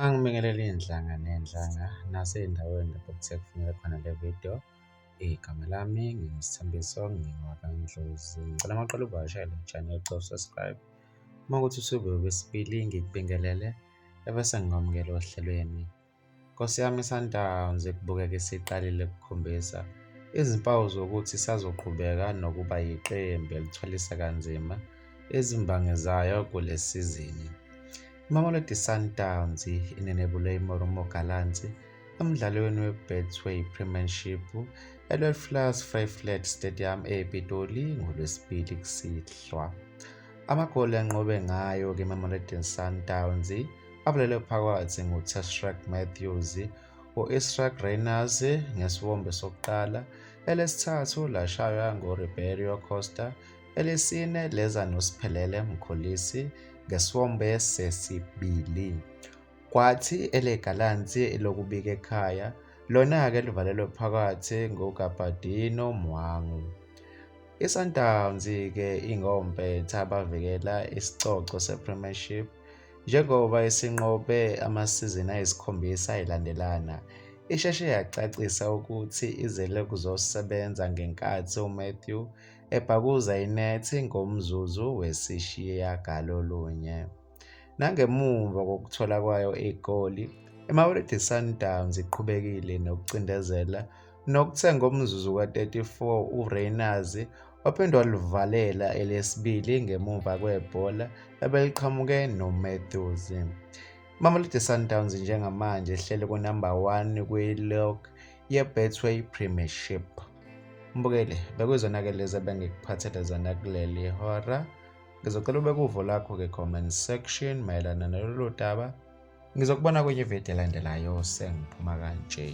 Angibingelele iy'nhlanga ney'nhlanga nasey'ndaweni lapho kuthe kufuneka khona le video. Igama lami nginguSithembiso ngingowaKaNdlozi. Ngicela amaqela uvakashele i-channel cofa subscribe. Uma kuthi usuke wesibili ngikubingelele ebese ngikwamukela ohlelweni. Nkosi yami iSundowns ekubukeka isiqalile kukhombisa izimpawu zokuthi isazoqhubeka nokuba yiqembu elithwalisa kanzima izimbangi zayo kule sizini. IMamelodi Sundowns inenebule iMoromo Gallants emdlalweni weBetway Premiership eLwelflas Vryflat Stadium ePitoli ngoLwesibili kusihlwa. Amagoli anqobe ngayo ke-Mamelodi Sundowns abulele phakathi ngutesrak matthews u-israk rainers ngesiwombe sokuqala elesithathu lashaywa nguriberio costa elesine leza nosiphelele mkhulisi ngesiwombe sesibili kwathi elegalansi lokubika ekhaya lona-ke livalelwe phakathi ngugabadino mwangu I-Sundowns-ke ingompetha abavikela isicoco se-Premiership Njengoba isinqobe amasizini ayisikhombisa ayilandelana, isheshe yacacisa ukuthi izele kuzosebenza ngenkathi uMatthew ebhakuza inethi ngomzuzu wesishiyagalolunye. Nangemuva kokuthola kwayo igoli, iMamelodi Sundowns iqhubekile nokucindezela nokuthe ngomzuzu ka-34 uRayners waphinde walivalela elesibili ngemuva kwebhola ebeliqhamuke noMatthews. Mamelodi Sundowns njengamanje ihleli kunumber 1 kwi-log ye-Betway Premiership. Mbukeli, bekuyizona-ke lezi ebengikuphathele zona kuleli hora. Ngizocela ubeke uvo lakho ke-comment section mayelana nalolu daba. Ngizokubona kwenye ividiyo elandelayo sengiphuma kanje.